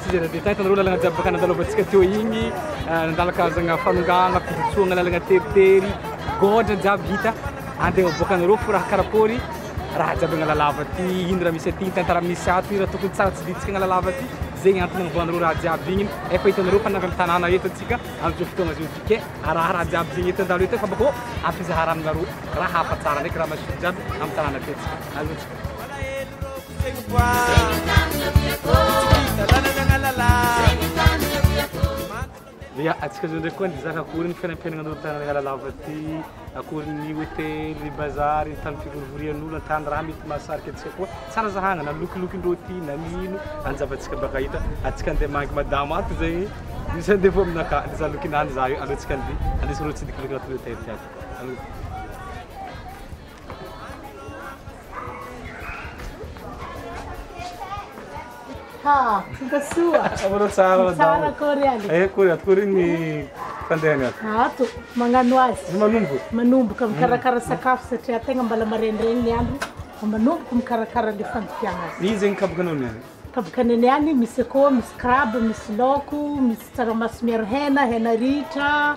Tsy zay nandeha tany fa nareo lalagna jiaby baka nandalovantsika teo igny nandala karazagna fanongana fijotsoagna lalagna teritery gôdra jiaby hita andeha miboaka anareo fo raha karakôry raha jiaby agnala lava ty ino raha misy aty tantara misy ato ino raha tokony tsara tsy diditsika agnala lava ty zegny antony nagnavoanareo raha jiaby igny efa hitanareo fa navy amy tanàna eto antsika amizao fotoagna zao ty ke araha raha jiaby zegny eto andalo eto fa bakô ampizahara aminareo raha hafa tsara ndraiky raha madio jiaby amy tanàna ty atsika allo tsika. Ya, antsika zao ndray koa nizaka akory ny fiainam-piainana an'olo tany Analalava aty, akory ny hotely, ny bazar, ny tany fivorivorian'olo, ny tany raha mety mahasarika antsika koa. Tsara zahagna na lokilokin'ny rôti na ny ino, any zavantsika baka hita, antsika andeha mangy madama ato zegny, misy andevo aminakà, le za lokinany za io, aleo antsika andeha andeso rô tsidikiloky agnatin'ny hotely jiaby, aleo. Ha, tonga soa. Akory tsara madamo. Tsara akory aly. Eh, akory akory ny fandehany ato. Ato, magnano azy. Manomboka. Manomboka mikarakara mm. sakafo satria tegna mbala marenireny ny andro. Manomboka mikarakara le fandikiana azy. Izy zegny kabokanao niany. Kabokana niany misy akoho, misy crabe, misy laoko, misy tsaramaso miaro hena, hena ritra.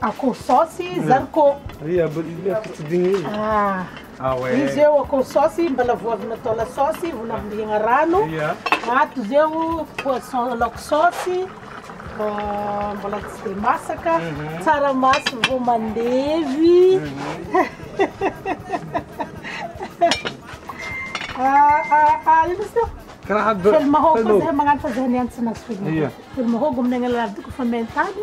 Akoho saosy zarikô. Izy eo akoho saosy mbola voavina atao la saosy, vola ambohiagna rano. Ato izy eo poisson laoka saosy mbola tsy dia masaka. Tsaramaso vao mandevy. Ino izy io? Fely mahôgo, fely mahôgo aminay agnanan'ny alalan'ny doko fa maintany.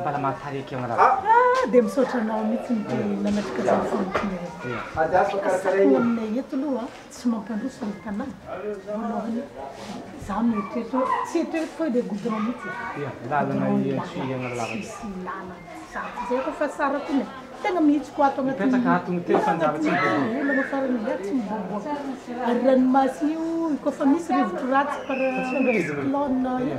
Mbala mahatsara eky aho raha. Ah dia misaotra anao mitsy ny nanatrika zany famotrona izany. Ka sahy ho aminay eto aloha tsy mampandroso ny tanàna voalohany za mieritreritra hoe tsy eto tonga dia goudron mitsy e. Goudron ny lalana tsisy lalana zato zay koa fa tsara koa ny tegna mihitsiko ato agnatin'ny olana farany za tsy miboaboaka ary ranomasina io koa fa misy rivotro ratsy par cyclone io.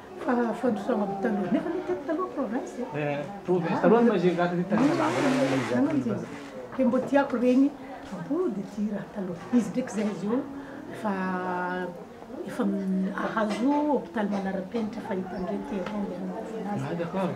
Fa fandrosoana avy taloha. Nefa aloha teto taloha province e. Eh, province taloha no izay gaty tany Mazava. Dia mbo tiako ireny mbo dia tia raha taloha. Izy ndraiky zay izy io efa efa ahazo hopitaly manarapenitra fahita ndray terrain ianao. Ah d'accord.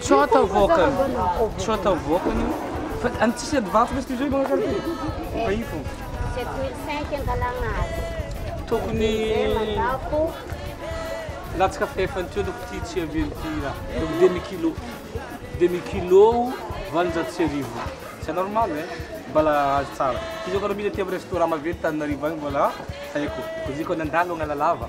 Tsota vokany. Tsota vokany io. Fa any tsisy ady vato lesy izao manao zany ty. Fa io fô. Sept mille cinq angalagna azy. Tokony mandako. Latsaka fefany teo loko ty tsy avy eo ty raha. Loko demi kilo. Demi kilo valonjato sy arivo. C'est normal eh. Mbala azo tsara. Izy io kara mila aty amin'ny restaurant maventy Tananarivo agny mbola haiko. Izy io kara nandalo agn'Analava.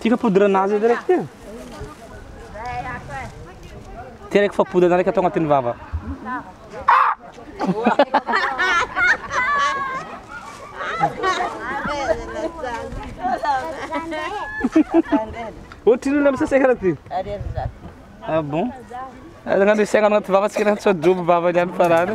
Tika poudre nazy edy raiky tia. Tia raiky fa poudre na raiky atao agnatin'ny vava. Ohatry olona misaseka raha ty. Ah bon? Aza ngano isaigna agnaty vava tsika na tsoa drobo vava ihany farany.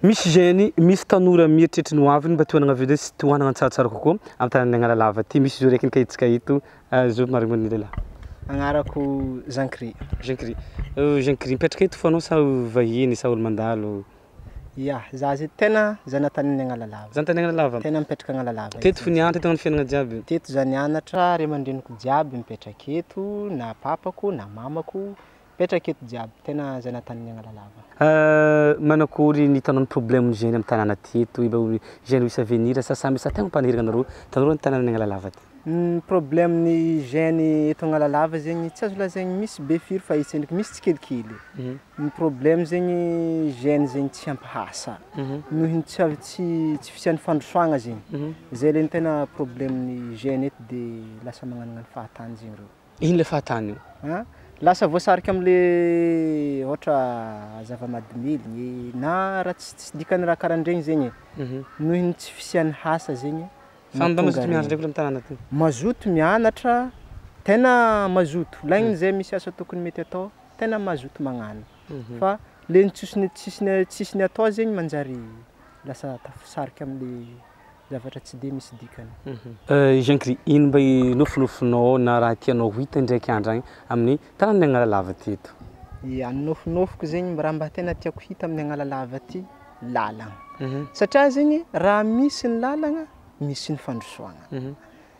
Misy jeune, misy tanora mieritreritry ny ho aviny mba te hanagna villa sy te ho hanagna tsaratsara kokoa amin'ny tanànan'i Analalava ity. Misy izy io raiky nikahitsika eto. Azo marimarigno ny lehilahy. Agnarako Jean Chri. Jean Chri. Jean Chri, mipetraka eto fo anao sa vahiny sa olo mandalo? Ya, za zay tegna zanatanin'i Analalava. Zanatanin'i Analalava? Tegna mipetraka Analalava. Teto fo nianatra, teto fiainagna jiaby? Teto za nianatra, ray aman-dreniko jiaby mipetraka eto, na papako na mamako Mipetraka eto jiaby, tena zay natany ny agnala lava. Euh manakory ny hitanao ny problème ny jeune am tanàna ty eto i mba jeune misy avenir sa samy sa tegna mpaniriagna nareo tanora ny tanàna ny agnalalava ty. Ny problème ny jeune eto agnalalava zegny tsy azo lazaigny misy be firy fa etsy ndraiky misy tsikelikely ny problème zegny jeune zegny tsy ampy asa noho ny tsy avy tsy tsy fisian'ny fandrosoagna zegny zay le ny tegna problème ny jeune eto de lasa magnanognano fahatany zegny reo. Ino le fahatany io? An, lasa voasarika amle ohatra zava-madimidiny na raha tsy tsy dikany raha karandregny zegny e, nohon'ny tsy fisian'ny hasa zegny no tonga re. Mazoto mianatra, tegna mazoto, laigny zay misy asa tokony mety atao, tegna mazoto magnano, fa le ny tsisy ny tsisy ny tsisy ny atao zegny manjary lasa tafisarika amle. zavatra tsy dia misy dikany. Jean Gris, ino mba inofinofinao na raha tianao ho hita indraiky andro agny amin'ny taran'ny agn'ala lava ty eto? Ia, ny nofinofiko zegny raha mba tena tiako hita amin'ny agn'ala lava ty, lalagna. Satria zegny raha misy ny lalagna, misy ny fandrosoagna.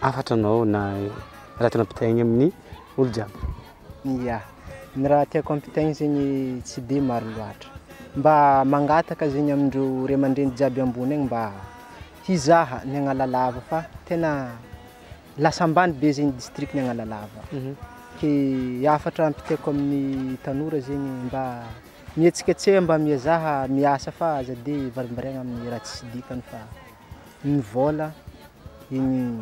Hafatra anao na raha tena ampitahaigny amin'ny olo jiaby. Ya, ny raha tiako ampitahaigny zegny tsy de maro loatra, mba mangataka zegny amindreo ray aman-dreny jiaby ambony any mba hizaha ny Analalava fa tena lasa ambany be zegny distrikan'i Analalava, ke hafatra ampitaiko amin'ny tanora zegny mba mihetsiketseha mba miezaha miasa fa aza de varimbariagna amin'ny raha tsisy dikany fa. Iny vola iny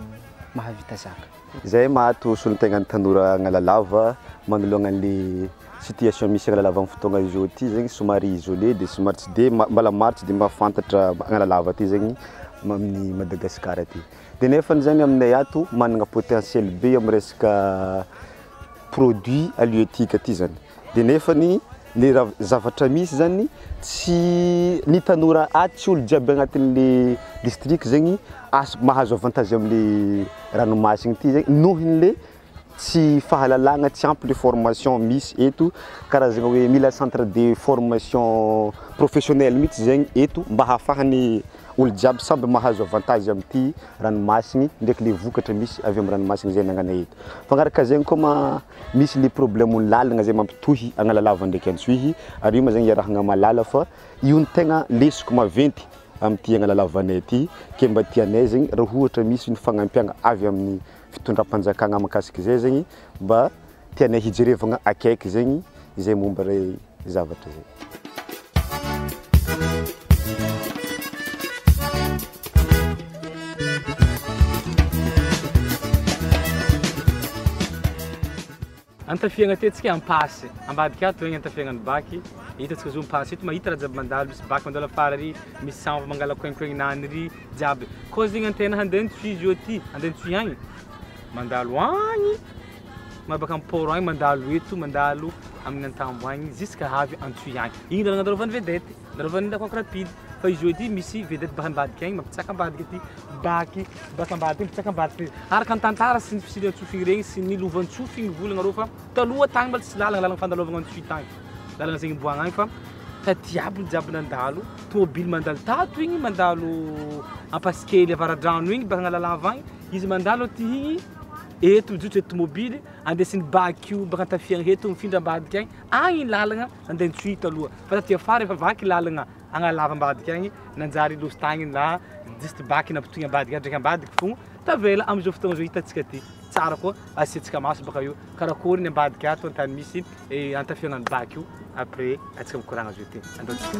mahavita zaka. Izay maty ho solontenan'ny tanora Analalava manoloana an'le situation misy Analalava amin'ny fotoagna izao ity zegny somary isolé de somary tsy de ma- mbala maro tsy de mahafantatra Analalava aty zegny ma- amin'ny Madagasikara aty de nefany zany aminay ato managna potentiel be amin'ny resaka produits halieutiques aty zany de nefany le raha zavatra misy zany tsy ny tanora aty tsy olo jiaby agnatin'le district zegny azo mahazo avantage amle ranomasiny ty zegny nohonle tsy fahalalagna tsy ampy le formation misy eto karazagna hoe mila centre de formation professionnelle mitsy zegny eto mba hahafahany Olo jiaby samby mahazo avantage amty ranomasiny ndraiky le vokatra misy avy am ranomasiny zay anangana eto. Mpangaraka zegny koa ma misy le problème ny lalagna zay mampitohy Analalava ndraiky Antsohihy ary io ma zegny iarahagna malala fa io no tegna lesoka maventy amty Analalavanay ty ke mba tianay zegny ra ohatra misy ny fagnampiagna avy aminy fitondram-panjakagna mahakasika zay zegny mba tianay hijerevagna akaiky zegny izay momba ilay zavatra zay. Antafiagna ty antsika ampasy ambadika ato egny antafiagna ny baky hitantsika zao ampasy eto mahita raha jiaby mandalo misy baky mandalo afara ary misy sambo mangala coincoin-nany ry jiaby koa zegny antegna handeha nitsoy izy eo ty handeha nitsoy agny mandalo agny Maro baka am port agny mandalo eto mandalo amin'ny antambo agny ziska avy antsoy agny igny lalagna andalovany vedette andalovany ndaty coque rapide fa izy eo ity misy vedette baka ambadika agny mampitsaka ambadika aty baky baka ambadika mampitsaka ambadika araka ny tantara sy ny fisian'i antsofy igny regny sy ny lovantsofy igny volagna reo fa taloha tagny mbola tsy lalagna lalagna fandalovagna antsoy tagny lalagna zegny iboahagna agny fa taty aby ny jiaby nandalo tômôbily mandalo tato igny mandalo ampasikely avaradrano igny baka agnalalava agny izy mandalo aty igny eto mijotso eto tomobily andeha sy ny baky io baka tafiany reto mifindra ambadika agny agny lalagna andeha ny tsuhita aloha fa taty afara efa vaky lalagna agnalava ambadika agny nanjary losy tagny na disty baky nampitohigna ambadika ndraiky ambadika fô tavela amizao fotoagna zao hitantsika ty tsara koa asiantsika maso baka io karakory ny ambadika ato antany misy E antafio nany bac io après atsika mikoragna azo ity andao tsika.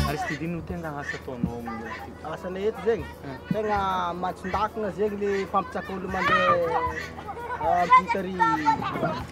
Aristide no tegna asa ataonao amin'ny asa Asana eto zegny hmm. tegna matsindakina zegny le mpampitsaka olo mandeha ah, mpitary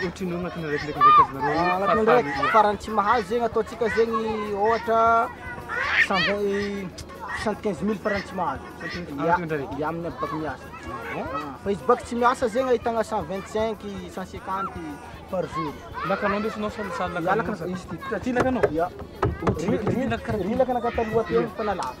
Ohatrino agnatin'ny araikidraiky ndraiky azonareo hoe Agnatin'ny farany araiky ilan-? farany tsy mahazo zegny ataontsika zegny ôhatra cent vingt cent quinze mille farany tsy mahazo. Cent quinze mille, Ya, agnatin'ny andro araiky? ya amin'ny aby baka miasa. Ah, Fa izy baka tsy miasa zegny ahitagna cent vingt cinq, cent cinquante par jour. Lakanao ndesinao sa sa Ya, lakanao? lakanao. Izy ty. Ty lakanao? Ya. Ry- ry- ry lakanao taloha teo efa nalavo.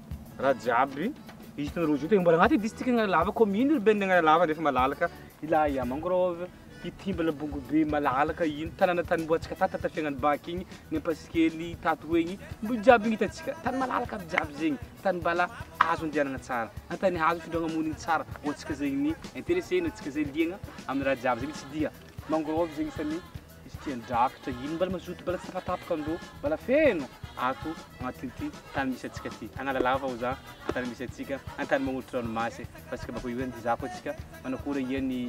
Raha jiaby izy tena rojo tegna mbola agnaty district Analalava commune urbaine Analalava nefa malalaka ilay mangrove hitimbana bongobe malalaka iny tanàna tany mbola antsika tato taty fiainan'ny bac igny ny ampasikely tato ho egny mbo jiaby ny hitantsika tany malalaka aby jiaby zegny tany mbala azo andianagna tsara na tany azo itondragna monigny tsara ho antsika zegny intéressé na antsika zay liagna amin'ny raha jiaby zegny tsy dia mangrove zegny isan'ny Izy tia drakitra iny mbala mazoto mbala tsy tapatapaka ndro mbala feno ato agnatin'ity tany misy antsika ty Analalava oza ny tany misy antsika ny tany magnolotry ranomasy e fa tsika bako iany dizako atsika manakora ia ny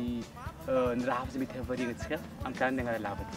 ny raha zay mety havariagna antsika am tany Analalava ty